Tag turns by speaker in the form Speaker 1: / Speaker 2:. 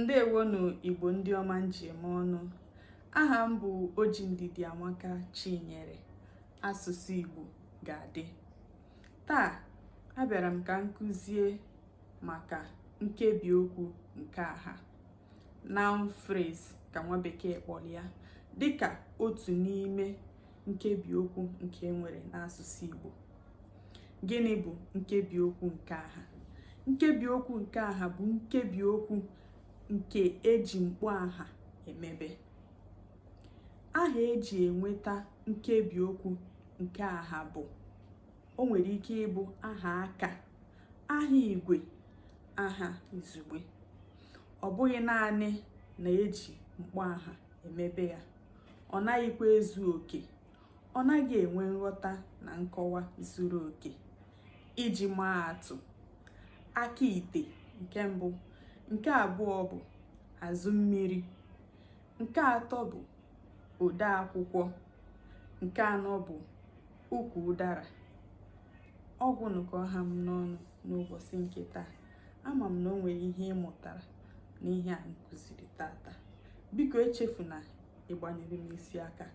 Speaker 1: ndewonụ igbo ndị ọma m ji eme ọnụ aha m bụ oji ndidiamaka chinyere asụsụ igbo ga-adị taa abịara m ka m kụzie maka nkebi okwu nke aha noun phrase ka nwa bekee kpọrọ ya dịka otu n'ime nkebi okwu nke e nwere n'asụsụ igbo gịnị bụ nkebi okwu nke aha nkebi okwu nke aha bụ nkebi okwu nke eji mkpọ aha emebe aha eji enweta nkebi okwu nke aha bụ o nwere ike ịbụ aha aka aha igwe aha izugbe ọ bụghị naanị na eji mkpọ aha emebe ya ọ naghịkwa ezu oke ọ naghị enwe nghọta na nkọwa zuru oke iji maa atụ aka ite nke mbụ nke abụọ bụ azụ mmiri nke atọ bụ ode akwụkwọ nke anọ bụ ukwu ụdara ọ gwụnụ ka ọ ha m n'ọnụ n'ụbọchị nke taa ama m na o nwere ihe ị mụtara n'ihe a m kụziri tata biko echefuna ịgbanyere m isi aka